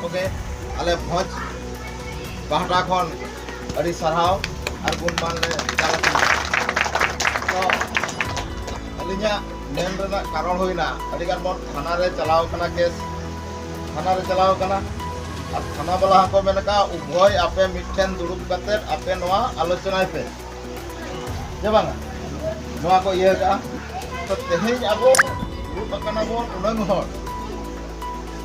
ᱠᱚᱜᱮ ᱟᱞᱮ ᱵᱷᱚᱸᱡᱽ ᱯᱟᱦᱴᱟ ᱠᱷᱚᱱ ᱟᱹᱰᱤ ᱥᱟᱨᱦᱟᱣ ᱟᱨ ᱜᱩᱱᱢᱟᱱ ᱞᱮ ᱪᱟᱞ ᱟᱠᱟᱱᱟ ᱛᱚ ᱟᱹᱞᱤᱧᱟᱜ ᱢᱮᱱ ᱨᱮᱱᱟᱜ ᱠᱟᱨᱚᱱ ᱦᱩᱭᱱᱟ ᱟᱹᱰᱤ ᱜᱟᱱ ᱵᱚᱱ ᱛᱷᱟᱱᱟ ᱨᱮ ᱪᱟᱞᱟᱣ ᱠᱟᱱᱟ ᱠᱮᱥ ᱛᱷᱟᱱᱟ ᱨᱮ ᱪᱟᱞᱟᱣ ᱠᱟᱱᱟ ᱟᱨ ᱛᱷᱟᱱᱟ ᱵᱟᱞᱟ ᱦᱚᱸᱠᱚ ᱢᱮᱱ ᱟᱠᱟᱫᱼᱟ ᱩᱵᱷᱚᱭ ᱟᱯᱮ ᱢᱤᱫᱴᱷᱮᱱ ᱫᱩᱲᱩᱵ ᱠᱟᱛᱮ ᱟᱯᱮ ᱱᱚᱣᱟ ᱟᱞᱳᱪᱚᱱᱟᱭ ᱯᱮ ᱡᱮ ᱵᱟᱝᱟ ᱱᱚᱣᱟ ᱠᱚ ᱤᱭᱟᱹ ᱠᱟᱜᱼᱟ ᱛᱚ ᱛᱮᱦᱮᱧ ᱟᱵᱚ ᱫᱩᱲᱩᱵ ᱟᱠᱟᱱᱟ ᱵᱚᱱ ᱩᱱᱟᱹᱝ ᱦᱚᱲ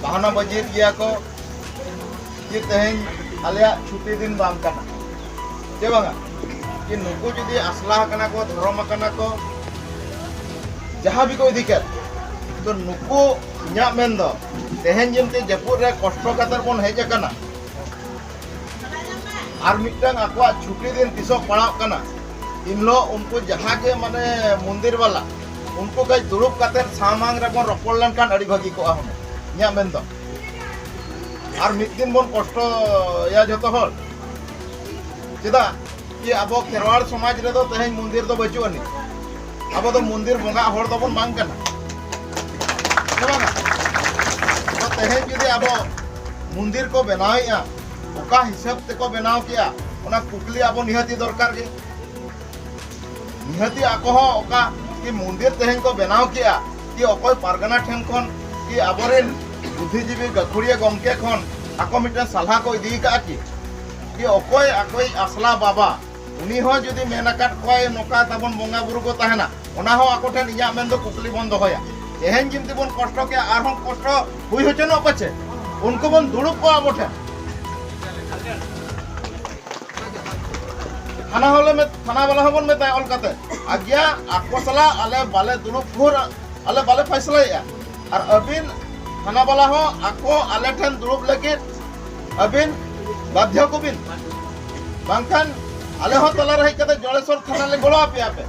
ᱵᱟᱦᱟᱱᱟ ᱵᱟᱹᱡᱤᱨ ᱜᱮᱭᱟ ᱠᱚ ᱡᱮ ᱛᱮᱦᱮᱧ ᱟᱞᱮᱭᱟᱜ ᱪᱷᱩᱴᱤ ᱫᱤᱱ ᱵᱟᱝ ᱠᱟᱱᱟ ᱡᱮ ᱵᱟᱝᱟ ᱡᱮ ᱱᱩᱠᱩ ᱡᱩᱫᱤ ᱟᱥᱞᱟ ᱟᱠᱟᱱᱟ ᱠᱚ ᱫᱷᱚᱨᱚᱢ ᱟᱠᱟᱱᱟ ᱠᱚ ᱡᱟᱦᱟᱸ ᱜᱮᱠᱚ ᱤᱫᱤ ᱠᱮᱫ ᱛᱚ ᱱᱩᱠᱩ ᱤᱧᱟᱹᱜ ᱢᱮᱱ ᱫᱚ ᱛᱮᱦᱮᱧ ᱡᱮᱢᱛᱮ ᱡᱟᱹᱯᱩᱫ ᱨᱮ ᱠᱚᱥᱴᱚ ᱠᱟᱛᱮ ᱵᱚᱱ ᱦᱮᱡ ᱟᱠᱟᱱᱟ ᱟᱨ ᱢᱤᱫᱴᱟᱝ ᱟᱠᱚᱣᱟᱜ ᱪᱷᱩᱴᱤ ᱫᱤᱱ ᱛᱤᱥᱚᱜ ᱯᱟᱲᱟᱜ ᱠᱟᱱᱟ ᱤᱱ ᱦᱤᱞᱳᱜ ᱩᱱᱠᱩ ᱡᱟᱦᱟᱸ ᱜᱮ ᱢᱟᱱᱮ ᱢᱚᱱᱫᱤᱨ ᱵᱟᱞᱟ ᱩᱱᱠᱩ ᱠᱟᱹᱡ ᱫᱩᱲᱩᱵ ᱠᱟᱛᱮ ᱥᱟᱢᱟᱝ ᱨᱮᱵᱚᱱ ᱨᱚᱯᱚᱲ ᱞᱮᱱᱠᱷᱟᱱ ᱟᱹᱰᱤ ᱵᱷᱟᱹᱜᱤ ᱠᱚᱜᱼᱟ ᱦᱩᱱᱟᱹᱝ ᱤᱧᱟᱹᱜ ᱢᱮᱱ ᱫᱚ ᱟᱨ ᱢᱤᱫ ᱫᱤᱱ ᱵᱚᱱ ᱠᱚᱥᱴᱚᱭᱟ ᱡᱚᱛᱚ ᱦᱚᱲ ᱪᱮᱫᱟᱜ ᱠᱤ ᱟᱵᱚ ᱠᱷᱮᱨᱣᱟᱲ ᱥᱚᱢᱟᱡᱽ ᱨᱮᱫᱚ ᱛᱮᱦᱮᱧ ᱢᱚᱱᱫᱤᱨ ᱫᱚ ᱵᱟᱹᱪᱩᱜ ᱟᱹᱱᱤᱡ ᱟᱵᱚ ᱫᱚ ᱢᱚᱱᱫᱤᱨ ᱵᱚᱸᱜᱟ ᱦᱚᱲ ᱫᱚᱵᱚᱱ ᱵᱟᱝ ᱠᱟᱱᱟ ᱛᱮᱦᱮᱧ ᱡᱩᱫᱤ ᱟᱵᱚ ᱢᱚᱱᱫᱤᱨ ᱠᱚ ᱵᱮᱱᱟᱣᱮᱫᱼᱟ ᱚᱠᱟ ᱦᱤᱥᱟᱹᱵ ᱛᱮᱠᱚ ᱵᱮᱱᱟᱣ ᱠᱮᱜᱼᱟ ᱚᱱᱟ ᱠᱩᱠᱞᱤ ᱟᱵᱚ ᱱᱤᱦᱟᱹᱛᱤ ᱫᱚᱨᱠᱟᱨ ᱜᱮ ᱱᱤᱦᱟᱹᱛᱤ ᱟᱠᱚ ᱦᱚᱸ ᱚᱠᱟ ᱠᱤ ᱢᱚᱱᱫᱤᱨ ᱛᱮᱦᱮᱧ ᱠᱚ ᱵᱮᱱᱟᱣ ᱠᱮᱜᱼᱟ ᱠᱤ ᱚᱠᱚᱭ ᱯᱟᱨᱜᱟᱱᱟ ᱴᱷᱮᱱ ᱠᱷᱚᱱ ᱠᱤ ᱟᱵᱚᱨᱮᱱ ᱵᱩᱫᱽᱫᱷᱤᱡᱤᱵᱤ ᱜᱟᱹᱠᱷᱩᱲᱤᱭᱟᱹ ᱜᱚᱢᱠᱮ ᱠᱷᱚᱱ ᱟᱠᱚ ᱢᱤᱫᱴᱮᱱ ᱥᱟᱞᱦᱟ ᱠᱚ ᱤᱫᱤ ᱠᱟᱜᱼᱟ ᱠᱤ ᱠᱤ ᱚᱠᱚᱭ ᱟᱠᱚᱭᱤᱡ ᱟᱥᱞᱟ ᱵᱟᱵᱟ ᱩᱱᱤ ᱦᱚᱸ ᱡᱩᱫᱤ ᱢᱮᱱ ᱟᱠᱟᱫ ᱠᱚᱣᱟᱭ ᱱᱚᱝᱠᱟ ᱛᱟᱵᱚᱱ ᱵᱚᱸᱜᱟ ᱵᱩᱨᱩ ᱠᱚ ᱛᱟᱦᱮᱱᱟ ᱚᱱᱟ ᱦᱚᱸ ᱟᱠᱚ ᱴᱷᱮᱱ ᱤᱧᱟᱹᱜ ᱢᱮᱱ ᱫᱚ ᱠᱩᱠᱞᱤ ᱵᱚᱱ ᱫᱚᱦᱚᱭᱟ ᱛᱮᱦᱮᱧ ᱡᱤᱱᱛᱤ ᱵᱚᱱ ᱠᱚᱥᱴᱚ ᱠᱮᱜᱼᱟ ᱟᱨᱦᱚᱸ ᱠᱚᱥᱴᱚ ᱦᱩᱭ ᱦᱚᱪᱚᱱᱚᱜ ᱯᱟᱪᱮ ᱩᱱᱠᱩ ᱵᱚᱱ ᱫᱩᱲᱩᱵ ᱠᱚᱣᱟ ᱟᱵᱚ ᱴᱷᱮᱱ ᱛᱷᱟᱱᱟ ᱦᱚᱸᱞᱮ ᱛᱷᱟᱱᱟ ᱵᱟᱞᱟ ᱦᱚᱸᱵᱚᱱ ᱢᱮᱛᱟᱭᱟ ᱚᱞ ᱠᱟᱛᱮ ᱟᱜᱭᱟ ᱟᱠᱚ ᱥᱟᱞᱟᱜ ᱟᱞᱮ ᱵᱟᱞᱮ ᱫᱩᱲᱩᱵ ᱵᱷᱳᱨ ᱟᱞᱮ ᱵᱟᱞᱮ ᱯᱷᱟᱭᱥᱞᱟᱭᱮᱜᱼᱟ ᱟᱨ ᱟᱹᱵᱤᱱ ᱛᱷᱟᱱᱟ ᱵᱟᱞᱟ ᱦᱚᱸ ᱟᱠᱚ ᱟᱞᱮ ᱴᱷᱮᱱ ᱫᱩᱲᱩᱵ ᱞᱟᱹᱜᱤᱫ ᱟᱹᱵᱤᱱ ᱵᱟᱫᱷᱭᱚ ᱠᱚᱵᱤᱱ ᱵᱟᱝᱠᱷᱟᱱ ᱟᱞᱮ ᱦᱚᱸ ᱛᱟᱞᱟ ᱨᱮ ᱦᱮᱡ ᱠᱟᱛᱮ ᱡᱚᱲᱮᱥᱚᱨ ᱛᱷᱟᱱᱟ ᱞᱮ ᱜᱚᱲᱚ ᱟᱯᱮᱭᱟ ᱯᱮ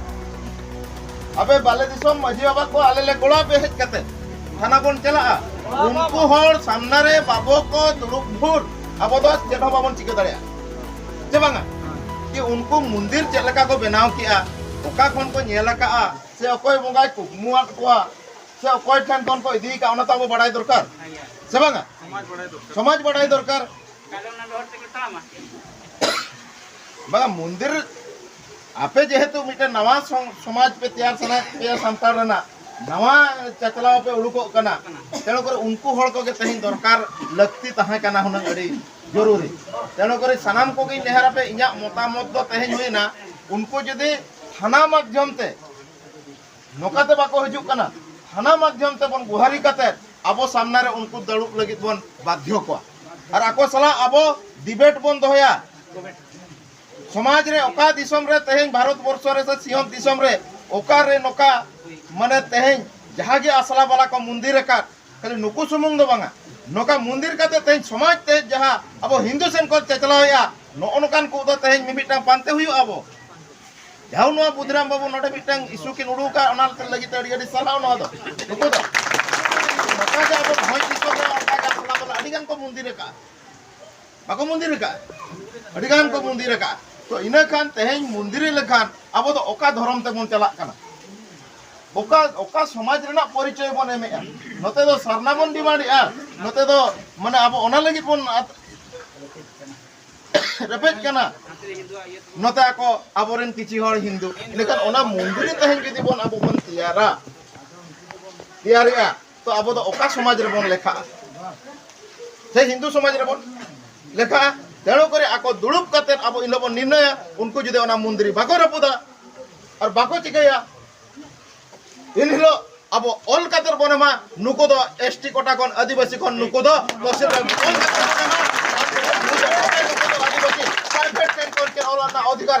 ᱟᱯᱮ ᱵᱟᱞᱮ ᱫᱤᱥᱚᱢ ᱢᱟᱹᱡᱷᱤ ᱵᱟᱵᱟ ᱠᱚ ᱟᱞᱮ ᱞᱮ ᱜᱚᱲᱚ ᱟᱯᱮ ᱦᱮᱡ ᱠᱟᱛᱮ ᱛᱷᱟᱱᱟ ᱵᱚᱱ ᱪᱟᱞᱟᱜᱼᱟ ᱩᱱᱠᱩ ᱦᱚᱲ ᱥᱟᱢᱱᱟ ᱨᱮ ᱵᱟᱵᱚ ᱠᱚ ᱫᱩᱲᱩᱵ ᱵᱷᱳᱨ ᱟᱵᱚ ᱫᱚ ᱪᱮᱫ ᱦᱚᱸ ᱵᱟᱵᱚᱱ ᱪᱤᱠᱟᱹ ᱫᱟᱲᱮᱭᱟᱜᱼᱟ ᱪᱮᱵᱟᱝᱟ ᱡᱮ ᱩᱱᱠᱩ ᱢᱚᱱᱫᱤᱨ ᱪᱮᱫ ᱞᱮᱠᱟ ᱠᱚ ᱵᱮᱱᱟᱣ ᱠᱮᱜᱼᱟ ᱚᱠᱟ ᱠᱷᱚᱱ ᱠᱚ ᱧᱮᱞ ᱟᱠᱟᱜᱼᱟ ᱥᱮ ᱚᱠᱚᱭ ᱵᱚᱸᱜᱟᱭ ᱠᱩᱠᱢᱩᱣᱟᱫ ᱠᱚᱣᱟ ᱥᱮ ᱚᱠᱚᱭ ᱴᱷᱮᱱ ᱠᱷᱚᱱ ᱠᱚ ᱤᱫᱤ ᱟᱠᱟᱜᱼᱟ ᱚᱱᱟ ᱛᱚ ᱟᱵᱚ ᱵᱟᱲᱟᱭ ᱫᱚᱨᱠᱟᱨ ᱥᱮ ᱵᱟᱝᱟ ᱥᱚᱢᱟᱡᱽ ᱵᱟᱲᱟᱭ ᱫᱚᱨᱠᱟᱨ ᱵᱟᱝᱟ ᱢᱚᱱᱫᱤᱨ ᱟᱯᱮ ᱡᱮᱦᱮᱛᱩ ᱢᱤᱫᱴᱮᱱ ᱱᱟᱣᱟ ᱥᱚᱢᱟᱡᱽ ᱯᱮ ᱛᱮᱭᱟᱨ ᱥᱟᱱᱟᱭᱮᱫ ᱯᱮᱭᱟ ᱥᱟᱱᱛᱟᱲ ᱨᱮᱱᱟᱜ ᱱᱟᱣᱟ ᱪᱟᱪᱞᱟᱣ ᱯᱮ ᱩᱰᱩᱠᱚᱜ ᱠᱟᱱᱟ ᱛᱮᱬᱩ ᱠᱚᱨᱮ ᱩᱱᱠᱩ ᱦᱚᱲ ᱠᱚᱜᱮ ᱛᱮᱦᱮᱧ ᱫᱚᱨᱠᱟᱨ ᱞᱟᱹᱠᱛᱤ ᱛᱟᱦᱮᱸ ᱠᱟᱱᱟ ᱦᱩᱱᱟᱹᱝ ᱟᱹᱰᱤ ᱡᱚᱨᱩᱨᱤ ᱛᱮᱱᱚ ᱠᱚᱨᱮ ᱥᱟᱱᱟᱢ ᱠᱚ ᱜᱮ ᱱᱮᱦᱟᱨ ᱟᱯᱮ ᱤᱧᱟᱜ ᱢᱚᱛᱟᱢᱚᱛ ᱫᱚ ᱛᱮᱦᱮᱧ ᱦᱩᱭᱱᱟ ᱩᱱᱠᱩ ᱡᱩᱫᱤ ᱛᱷᱟᱱᱟ ᱢᱟᱫᱷᱭᱚᱢ ᱛᱮ ᱱᱚᱠᱟᱛᱮ ᱵᱟᱠᱚ ᱦᱤᱡᱩᱜ ᱠᱟᱱᱟ ᱛᱷᱟᱱᱟ ᱢᱟᱫᱷᱭᱚᱢ ᱛᱮ ᱵᱚᱱ ᱜᱩᱦᱟᱨᱤ ᱠᱟᱛᱮ ᱟᱵᱚ ᱥᱟᱢᱱᱟ ᱨᱮ ᱩᱱᱠᱩ ᱫᱟᱲᱩᱵ ᱞᱟᱹᱜᱤᱫ ᱵᱚᱱ ᱵᱟᱫᱷᱭᱚ ᱠᱚᱣᱟ ᱟᱨ ᱟᱠᱚ ᱥᱟᱞᱟ ᱟᱵᱚ ᱰᱤᱵᱮᱴ ᱵᱚᱱ ᱫᱚᱦᱚᱭᱟ ᱥᱚᱢᱟᱡᱽ ᱨᱮ ᱚᱠᱟ ᱫᱤᱥᱚᱢ ᱨᱮ ᱛᱮᱦᱮᱧ ᱵᱷᱟᱨᱚᱛ ᱵᱚᱨᱥᱚ ᱨᱮ ᱥᱮ ᱥᱤᱧᱚᱛ ᱫᱤᱥᱚᱢ ᱨᱮ ᱚᱠᱟ ᱨᱮ ᱱᱚᱠᱟ ᱢᱟᱱᱮ ᱛᱮᱦᱮᱧ ᱡᱟᱦᱟᱸ ᱜᱮ ᱟᱥᱲᱟ ᱵᱟᱞᱟ ᱠᱚ ᱢᱩᱱᱫᱤᱨ ᱟᱠᱟᱫ ᱠᱷᱟᱹᱞᱤ ᱱᱩᱠᱩ ᱥᱩᱢᱩᱝ ᱫᱚ ᱵᱟᱝᱟ ᱱᱚᱝᱠᱟ ᱢᱚᱱᱫᱤᱨ ᱠᱟᱛᱮ ᱛᱮᱦᱮᱧ ᱥᱚᱢᱟᱡᱽ ᱛᱮ ᱡᱟᱦᱟᱸ ᱟᱵᱚ ᱦᱤᱱᱫᱩ ᱥᱮᱱ ᱠᱚ ᱪᱟᱪᱞᱟᱣᱮᱜᱼᱟ ᱱᱚᱜᱼᱚ ᱱᱚᱝᱠᱟᱱ ᱠᱚ ᱫᱚ ᱛᱮᱦᱮᱧ ᱢᱤᱢᱤᱫᱴᱟᱝ ᱯᱟᱱᱛᱮ ᱦᱩᱭᱩᱜᱼᱟ ᱟᱵᱚ ᱡᱟᱦᱟᱸ ᱱᱚᱣᱟ ᱵᱩᱫᱷᱤᱨᱟᱢ ᱵᱟᱹᱵᱩ ᱱᱚᱰᱮ ᱢᱤᱫᱴᱟᱝ ᱤᱥᱩ ᱠᱤᱱ ᱩᱰᱩᱠᱟ ᱚᱱᱟ ᱞᱟᱹᱜᱤᱫ ᱛᱮ ᱟᱹᱰᱤ ᱟᱹᱰᱤ ᱥᱟᱨᱦᱟᱣ ᱱᱚᱣᱟ ᱫᱚ ᱱᱩᱠᱩ ᱫᱚ ᱱᱚᱝᱠᱟ ᱜᱮ ᱟᱵᱚ ᱵᱷᱚᱸᱡᱽ ᱫᱤᱥᱚᱢ ᱨᱮ ᱚᱱᱠᱟ ᱜᱮ ᱟᱥᱞᱟ ᱵᱟᱞᱟ ᱟᱹᱰᱤ ᱜᱟᱱ ᱠᱚ ᱢᱚᱱᱫᱤᱨ ᱟᱠᱟᱫᱼᱟ ᱵᱟᱠᱚ ᱢᱚᱱᱫᱤᱨ ᱟᱠᱟᱫᱼᱟ ᱟᱹᱰᱤ ᱜᱟᱱ ᱠᱚ ᱢᱚᱱᱫᱤᱨ ᱟᱠᱟᱫᱼᱟ ᱛᱚ ᱤᱱᱟᱹ ᱠᱷᱟᱱ ᱛᱮᱦᱮᱧ ᱢᱚᱱᱫᱤᱨ ᱞᱮᱠᱷᱟᱱ ᱟᱵᱚ ᱫᱚ ᱚᱠᱟ ᱫᱷᱚᱨᱚᱢ ᱛᱮᱵᱚᱱ ᱪᱟᱞᱟᱜ ᱠᱟᱱᱟ ᱚᱠᱟ ᱚᱠᱟ ᱥᱚᱢᱟᱡᱽ ᱨᱮᱱᱟᱜ ᱯᱚᱨᱤᱪᱚᱭ ᱵᱚᱱ ᱮᱢᱮᱜᱼᱟ ᱱᱚᱛᱮ ᱫᱚ ᱥᱟᱨᱱᱟ ᱵᱚᱱ ᱰᱤᱢᱟᱱᱰᱮᱜᱼᱟ ᱱᱚᱛᱮ ᱫᱚ ᱢᱟᱱᱮ ᱟᱵᱚ ᱚᱱᱟ ᱞᱟᱹᱜᱤᱫ ᱵᱚᱱ ᱨᱮᱯᱮᱡ ᱠᱟᱱᱟ ᱱᱚᱛᱮ ᱟᱠᱚ ᱟᱵᱚᱨᱮᱱ ᱠᱤᱪᱷᱤ ᱦᱚᱲ ᱦᱤᱱᱫᱩ ᱞᱮᱠᱷᱟᱱ ᱚᱱᱟ ᱢᱚᱱᱫᱤᱨ ᱛᱮᱦᱮᱧ ᱡᱩᱫᱤ ᱵᱚᱱ ᱟᱵᱚ ᱵᱚᱱ ᱛᱮᱭᱟᱨᱟ ᱛᱮᱭᱟᱨᱮᱜᱼᱟ ᱛᱚ ᱟᱵᱚ ᱫᱚ ᱚᱠᱟ ᱥᱚᱢᱟᱡᱽ ᱨᱮᱵᱚᱱ ᱞᱮᱠᱷᱟᱜᱼᱟ ᱥᱮ ᱦᱤᱱᱫᱩ ᱥᱚᱢᱟᱡᱽ ᱨᱮᱵᱚᱱ ᱞᱮᱠᱷᱟᱜᱼᱟ ᱛᱮᱬᱩ ᱠᱚᱨᱮ ᱟᱠᱚ ᱫᱩᱲᱩᱵ ᱠᱟᱛᱮ ᱟᱵᱚ ᱤᱱ ᱵᱚᱱ ᱱᱤᱨᱱᱚᱭᱟ ᱩᱱᱠᱩ ᱡᱩᱫᱤ ᱚᱱᱟ ᱢᱚᱱᱫᱤᱨ ᱵᱟᱠᱚ ᱨᱟᱹᱯᱩᱫᱟ ᱟᱨ ᱵᱟᱠᱚ ᱪᱤᱠᱟᱹᱭᱟ ᱤᱱ ᱦᱤᱞᱳᱜ ᱟᱵᱚ ᱚᱞ ᱠᱟᱛᱮ ᱵᱚᱱ ᱮᱢᱟ ᱱᱩᱠᱩ ᱫᱚ ᱮᱥ ᱴᱤ ᱠᱚᱴᱟ ᱠᱷᱚᱱ ᱟᱹᱫᱤᱵᱟᱹᱥᱤ ᱠᱷᱚᱱ ᱱᱩᱠᱩ ᱫᱚ ᱛᱚᱦᱥᱤᱞ ᱨᱮ ᱚᱞ ᱠᱟᱛᱮ ᱵᱚᱱ ᱮᱢᱟ ᱯᱨᱟᱭᱵᱷᱮᱴ ᱥᱮᱠᱴᱚᱨ ᱨᱮ ᱚᱞ ᱨᱮᱱᱟᱜ ᱚᱫᱷᱤᱠᱟᱨ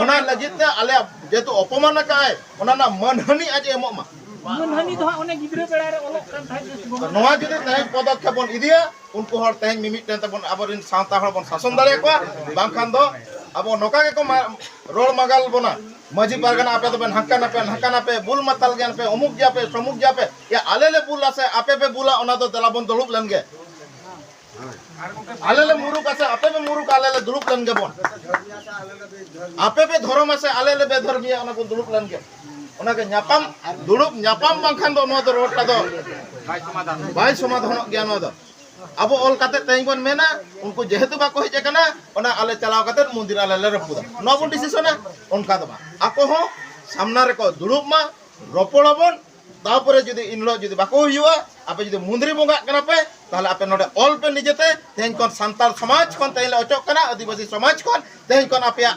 ᱚᱱᱟ ᱞᱟᱹᱜᱤᱫ ᱛᱮ ᱟᱞᱮ ᱡᱮᱦᱮᱛᱩ ᱚᱯᱚᱢᱟᱱ ᱟᱠᱟᱫ ᱚᱱᱟ ᱨᱮᱱᱟᱜ ᱢᱟᱹᱱᱦᱟᱹᱱᱤ ᱟᱡ ᱮᱢᱚᱜ ᱢᱟ ᱢᱟᱹᱱᱦᱟᱹᱱᱤ ᱫᱚ ᱦᱟᱸᱜ ᱚᱱᱮ ᱜᱤᱫᱽᱨᱟᱹ ᱵᱮᱲᱟ ᱨᱮ ᱚᱞᱚᱜ ᱠᱟᱱ ᱛᱟᱦᱮᱸᱫ ᱱᱚᱣᱟ ᱡᱩᱫᱤ ᱛᱮᱦᱮᱧ ᱯᱚᱫᱚᱠᱷᱮᱯ ᱵᱚᱱ ᱤᱫᱤᱭᱟ ᱩᱱᱠᱩ ᱦᱚᱲ ᱛᱮᱦᱮᱧ ᱢᱤᱢᱤᱫᱴᱮᱱ ᱛᱮᱵᱚᱱ ᱟᱵᱚᱨᱮᱱ ᱥᱟᱶᱛᱟ ᱦᱚᱲ ᱵᱚᱱ ᱥᱟᱥᱚᱱ ᱫᱟᱲᱮ ᱠᱚᱣᱟ ᱵᱟᱝᱠᱷᱟᱱ ᱫᱚ ᱟᱵᱚ ᱱᱚᱝᱠᱟ ᱜᱮᱠᱚ ᱨᱚᱲ ᱢᱟᱜᱟᱞ ᱵᱚᱱᱟ ᱢᱟᱹᱡᱷᱤ ᱯᱟᱨᱜᱟᱱᱟ ᱟᱯᱮ ᱫᱚᱵᱮᱱ ᱦᱟᱱᱠᱟᱱᱟ ᱯᱮ ᱱᱟᱠᱟᱱᱟ ᱯᱮ ᱵᱩᱞ ᱢᱟᱛᱟᱞ ᱜᱮᱭᱟᱱ ᱯᱮ ᱚᱢᱩᱠ ᱜᱮᱭᱟ ᱯᱮ ᱥᱚᱢᱩᱠ ᱜᱮᱭᱟ ᱯᱮ ᱟᱞᱮ ᱞᱮ ᱵᱩᱞᱟ ᱥᱮ ᱟᱯᱮ ᱯᱮ ᱵᱩᱞᱟ ᱚᱱᱟ ᱫᱚ ᱫᱮᱞᱟ ᱵᱚᱱ ᱫᱩᱲᱩᱵ ᱞᱮᱱ ᱜᱮ ᱟᱞᱮ ᱞᱮ ᱢᱩᱨᱩᱠ ᱟᱥᱮ ᱟᱯᱮ ᱯᱮ ᱢᱩᱨᱩᱠ ᱟᱞᱮ ᱞᱮ ᱫᱩᱲᱩᱵ ᱞᱮᱱ ᱜᱮᱵᱚᱱ ᱟᱯᱮ ᱯᱮ ᱫᱷᱚᱨᱚᱢ ᱟᱥᱮ ᱟᱞᱮ ᱞᱮ ᱵᱮᱫᱷᱚᱨᱢᱤᱭᱟ ᱚᱱᱟ ᱵᱚᱱ ᱫᱩᱲᱩᱵ ᱞᱮᱱ ᱜᱮ ᱚᱱᱟ ᱜᱮ ᱧᱟᱯᱟᱢ ᱫᱩᱲᱩᱵ ᱧᱟᱯᱟᱢ ᱵᱟᱝᱠᱷᱟᱱ ᱫᱚ ᱱᱚᱣᱟ ᱫᱚ ᱨᱚᱲᱴᱟ ᱫᱚ ᱵᱟᱭ ᱥᱚᱢᱟᱫᱷᱟᱱᱚᱜ ᱜᱮᱭᱟ ᱱᱚᱣᱟ ᱫᱚ ᱟᱵᱚ ᱚᱞ ᱠᱟᱛᱮ ᱛᱮᱦᱮᱧ ᱵᱚᱱ ᱢᱮᱱᱟ ᱩᱱᱠᱩ ᱡᱮᱦᱮᱛᱩ ᱵᱟᱠᱚ ᱦᱮᱡ ᱟᱠᱟᱱᱟ ᱚᱱᱟ ᱟᱞᱮ ᱪᱟᱞᱟᱣ ᱠᱟᱛᱮ ᱢᱚᱱᱫᱤᱨ ᱟᱞᱮ ᱞᱮ ᱨᱟᱹᱯᱩᱫᱟ ᱱᱚᱣᱟ ᱵᱚᱱ ᱰᱤᱥᱤᱥᱚᱱᱟ ᱚᱱᱠᱟ ᱫᱚ ᱵᱟᱝ ᱟᱠᱚ ᱦᱚᱸ ᱥᱟᱢᱱᱟ ᱨᱮᱠᱚ ᱫᱩᱲᱩᱵ ᱢᱟ ᱨᱚᱯᱚᱲ ᱟᱵᱚᱱ ᱛᱟᱯᱚᱨᱮ ᱡᱩᱫᱤ ᱤᱱ ᱦᱤᱞᱳᱜ ᱡᱩᱫᱤ ᱵᱟᱠᱚ ᱦᱩᱭᱩᱜᱼᱟ ᱟᱯᱮ ᱡᱩᱫᱤ ᱢᱩᱸᱫᱽᱨᱤ ᱵᱚᱸᱜᱟᱜ ᱠᱟᱱᱟ ᱯᱮ ᱛᱟᱦᱞᱮ ᱟᱯᱮ ᱱᱚᱰᱮ ᱚᱞ ᱯᱮ ᱱᱤᱡᱮᱛᱮ ᱛᱮᱦᱮᱧ ᱠᱷᱚᱱ ᱥᱟᱱᱛᱟᱲ ᱥᱚᱢᱟᱡᱽ ᱠᱷᱚᱱ ᱛᱮᱦᱮᱧ ᱞᱮ ᱚᱪᱚᱜ ᱠᱟᱱᱟ ᱟᱹᱫᱤᱵᱟᱹᱥᱤ ᱥᱚᱢᱟᱡᱽ ᱠᱷᱚᱱ ᱛᱮᱦᱮᱧ ᱠᱷᱚᱱ ᱟᱯᱮᱭᱟᱜ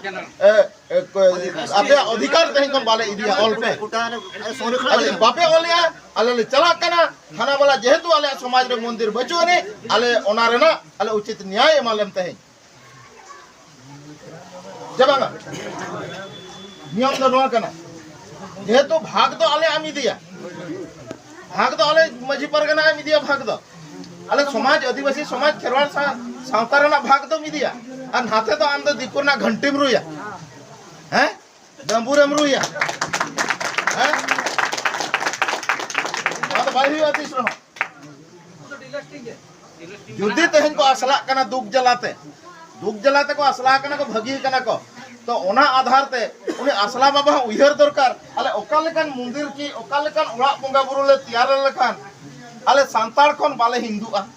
ᱟᱯᱮᱭᱟᱜ ᱚᱫᱷᱤᱠᱟᱨ ᱛᱮᱦᱮᱧ ᱠᱷᱚᱱ ᱵᱟᱞᱮ ᱤᱫᱤᱭᱟ ᱚᱞ ᱯᱮ ᱡᱩᱫᱤ ᱵᱟᱯᱮ ᱚᱞᱮᱜᱼᱟ ᱟᱞᱮ ᱞᱮ ᱪᱟᱞᱟᱜ ᱠᱟᱱᱟ ᱛᱷᱟᱱᱟ ᱵᱟᱞᱟ ᱡᱮᱦᱮᱛᱩ ᱟᱞᱮᱭᱟᱜ ᱥᱚᱢᱟᱡᱽ ᱨᱮ ᱢᱚᱱᱫᱤᱨ ᱵᱟᱹᱪᱩᱜ ᱟᱹᱱᱤᱡ ᱟᱞᱮ ᱚᱱᱟ ᱨᱮᱱᱟᱜ ᱟᱞᱮ ᱩᱪᱤᱛ ᱱᱮᱭᱟᱭ ᱮᱢᱟᱞᱮᱢ ᱛᱮᱦᱮᱧ ᱡᱟᱵᱟᱝᱟ ᱱᱤᱭᱚᱢ ᱫᱚ ᱱᱚᱣᱟ ᱠᱟᱱᱟ ᱡᱮᱦᱮᱛᱩ ᱵᱷᱟᱜᱽ ᱫᱚ ᱟᱞᱮ ᱟᱢ ᱤᱫᱤᱭᱟ ᱵᱷᱟᱜᱽ ᱫᱚ ᱟᱞᱮ ᱢᱟᱹᱡᱷᱤ ᱯᱟᱨᱜᱟᱱᱟ ᱟᱢ ᱤᱫᱤᱭᱟ ᱵᱷᱟᱜᱽ ᱫᱚ ᱟᱞᱮ ᱥᱚᱢᱟᱡᱽ ᱟᱹᱫᱤᱵᱟᱹᱥᱤ ᱥᱚᱢᱟᱡᱽ ᱠᱷᱮᱨᱣᱟᱲ ᱥᱟᱶᱛᱟ ᱨᱮᱱᱟᱜ ᱵᱷᱟᱜᱽ ᱫᱚᱢ ᱤᱫᱤᱭᱟ ᱟᱨ ᱱᱟᱛᱮ ᱫᱚ ᱟᱢ ᱫᱚ ᱫᱤᱠᱩ ᱨᱮᱱᱟᱜ ᱜᱷᱟᱱᱴᱤᱢ ᱨᱩᱭᱟ ᱦᱮᱸ ᱰᱟᱹᱢᱵᱩᱨ ᱮᱢ ᱨᱩᱭᱟ ᱦᱮᱸ ᱟᱫᱚ ᱵᱟᱭ ᱦᱩᱭᱩᱜᱼᱟ ᱛᱤᱥ ᱨᱮᱦᱚᱸ ᱡᱩᱫᱤ ᱛᱮᱦᱮᱧ ᱠᱚ ᱟᱥᱞᱟᱜ ᱠᱟᱱᱟ ᱫᱩᱠ ᱡᱟᱞᱟᱛᱮ ᱫᱩᱠ ᱡᱟᱞᱟᱛᱮ ᱠᱚ ᱟᱥᱞᱟ ᱠᱟᱱᱟ ᱠᱚ ᱵᱷᱟᱹᱜᱤ ᱠᱟᱱᱟ ᱠᱚ ᱛᱚ ᱚᱱᱟ ᱟᱫᱷᱟᱨ ᱛᱮ ᱩᱱᱤ ᱟᱥᱞᱟ ᱵᱟᱵᱟ ᱦᱚᱸ ᱩᱭᱦᱟᱹᱨ ᱫᱚᱨᱠᱟᱨ ᱟᱞᱮ ᱚᱠᱟ ᱞᱮᱠᱟᱱ ᱢᱚᱱᱫᱤᱨ ᱠᱤ ᱚᱠᱟ ᱞᱮᱠᱟᱱ ᱚᱲᱟᱜ ᱵᱚᱸᱜᱟ ᱵᱩᱨᱩ ᱞᱮ ᱛᱮᱭᱟᱨ ᱞᱮᱠᱷᱟᱱ ᱟᱞᱮ ᱥᱟᱱᱛᱟᱲ ᱠᱷᱚᱱ ᱵᱟᱞᱮ ᱦᱤᱱᱫᱩᱜᱼᱟ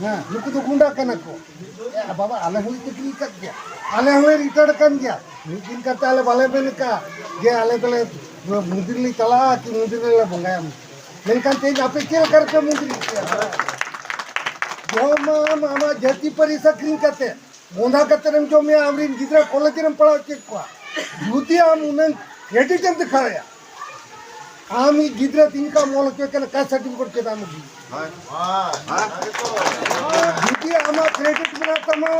ᱦᱮᱸ ᱱᱩᱠᱩ ᱫᱚ ᱜᱩᱸᱰᱟ ᱠᱟᱱᱟ ᱠᱚ ᱮ ᱵᱟᱵᱟ ᱟᱞᱮ ᱦᱚᱸ ᱪᱟᱹᱠᱨᱤ ᱟᱠᱟᱫ ᱜᱮᱭᱟ ᱟᱞᱮ ᱦᱚᱸᱞᱮ ᱨᱤᱴᱟᱭᱟᱨ ᱠᱟᱱ ᱜᱮᱭᱟ ᱢᱤᱫ ᱫᱤᱱ ᱠᱟᱛᱮ ᱟᱞᱮ ᱵᱟᱞᱮ ᱢᱮᱱ ᱟᱠᱟᱫ ᱡᱮ ᱟᱞᱮ ᱫᱚᱞᱮ ᱢᱚᱱᱫᱤᱨ ᱞᱮ ᱪᱟᱞᱟᱜᱼᱟ ᱠᱤ ᱢᱚᱱᱫᱤᱨ ᱨᱮᱞᱮ ᱵᱚᱸᱜᱟᱭᱟ ᱢᱮᱱᱠᱷᱟᱱ ᱛᱮᱦᱮᱧ ᱟᱯᱮ ᱪᱮᱫ ᱞᱮᱠᱟ ᱨᱮᱯᱮ ᱢᱚᱱᱫᱤᱨ ᱡᱚᱢᱟᱢ ᱟᱢᱟᱜ ᱡᱟᱹᱛᱤ ᱯᱟᱹᱨᱤᱥ ᱟᱹᱠᱷᱨᱤᱧ ᱠᱟᱛᱮ ᱵᱚᱸᱫᱷᱟ ᱠᱟᱛᱮ ᱮᱢ ᱡᱚᱢᱮᱭᱟ ᱟᱢᱨᱮᱱ ᱜᱤᱫᱽᱨᱟᱹ ᱠᱚᱞᱮᱡᱽ ᱨᱮᱢ ᱯᱟᱲᱦᱟᱣ ᱦᱚᱪᱚᱭᱮᱫ ᱠᱚᱣᱟ ᱡᱩᱫᱤ ᱟᱢ ᱩᱱᱟᱹᱝ ᱠᱨᱮᱰᱤᱴ ᱮᱢ ᱫᱮᱠᱷᱟᱣᱮᱭᱟ ᱟᱢᱤ ᱜᱤᱫᱽᱨᱟᱹ ᱛᱤᱧ ᱠᱟ ᱢᱚᱞ ᱦᱚᱪᱚᱭ ᱠᱟᱱᱟ ᱠᱟᱥ ᱥᱟᱨᱴᱤᱯᱷᱤᱠᱮᱴ ᱪᱮᱫ ᱟᱢ ᱜᱤ ᱡᱩᱫᱤ ᱟᱢᱟᱜ ᱠᱨᱮᱰᱤᱴ ᱢᱮᱱᱟᱜ ᱛᱟᱢᱟ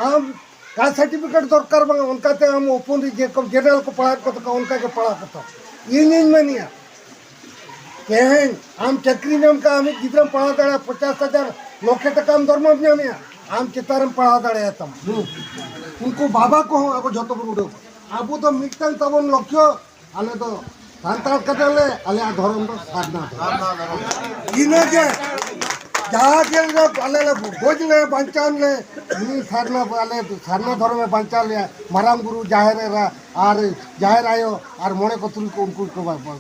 ᱟᱢ ᱠᱟᱥ ᱥᱟᱨᱴᱤᱯᱷᱤᱠᱮᱴ ᱫᱚᱨᱠᱟᱨ ᱵᱟᱝ ᱚᱱᱠᱟᱛᱮ ᱟᱢ ᱳᱯᱚᱱ ᱨᱮ ᱡᱮᱨᱚᱠᱚᱢ ᱡᱮᱱᱟᱨᱮᱞ ᱠᱚ ᱯᱟᱲᱦᱟᱣ ᱠᱚ ᱛᱟᱠᱚ ᱚᱱᱠᱟ ᱜᱮ ᱯᱟᱲᱦᱟᱣ ᱠᱚ ᱛᱟᱢ ᱤᱧᱤᱧ ᱢᱮᱱᱮᱜᱼᱟ ᱛᱮᱦᱮᱧ ᱟᱢ ᱪᱟᱹᱠᱨᱤ ᱧᱟᱢ ᱠᱟᱜ ᱟᱢᱤᱡ ᱜᱤᱫᱽᱨᱟᱹᱢ ᱯᱟᱲᱦᱟᱣ ᱫᱟᱲᱮᱭᱟᱜᱼᱟ ᱯᱚᱪᱟᱥ ᱦᱟᱡᱟᱨ ᱞᱚᱠᱷᱮ ᱴᱟᱠᱟᱢ ᱫᱚᱨᱢᱟᱢ ᱧᱟᱢᱮᱜᱼᱟ ᱟᱢ ᱪᱮᱛᱟᱱ ᱨᱮᱢ ᱯᱟᱲᱦᱟᱣ ᱫᱟᱲᱮᱭᱟᱜ ᱛᱟᱢᱟ ᱩᱱᱠᱩ ᱵᱟᱵᱟ ᱠᱚᱦᱚᱸ ᱟᱵᱚ ᱡᱷᱚᱛᱚ ᱵᱚᱱ ᱩᱰᱟᱹᱣ ᱟᱵᱚ ᱫᱚ ᱢᱤᱫᱴᱟᱝ ᱛᱟᱵᱚᱱ ᱞᱚᱠᱠᱷᱚ ᱟᱞᱮ ᱫᱚ ᱥᱟᱱᱛᱟᱲ ᱠᱟᱛᱮ ᱞᱮ ᱟᱞᱮᱭᱟᱜ ᱫᱷᱚᱨᱚᱢ ᱫᱚ ᱥᱟᱨᱱᱟ ᱫᱷᱚᱨᱚᱢ ᱤᱱᱟᱹ ᱜᱮ ᱡᱟᱦᱟᱸ ᱜᱮ ᱟᱞᱮ ᱞᱮ ᱜᱚᱡ ᱞᱮ ᱵᱟᱧᱪᱟᱣ ᱞᱮ ᱩᱱᱤ ᱥᱟᱨᱱᱟ ᱟᱞᱮ ᱥᱟᱨᱱᱟ ᱫᱷᱚᱨᱚᱢ ᱮ ᱵᱟᱧᱪᱟᱣ ᱞᱮᱭᱟ ᱢᱟᱨᱟᱝ ᱵᱩᱨᱩ ᱡᱟᱦᱮᱨ ᱮᱨᱟ ᱟᱨ ᱡᱟᱦᱮᱨ ᱟᱭᱳ ᱟᱨ ᱢᱚᱬᱮ ᱠᱚ ᱛᱩᱨᱩᱭ ᱠᱚ ᱩᱱᱠᱩ ᱠᱚ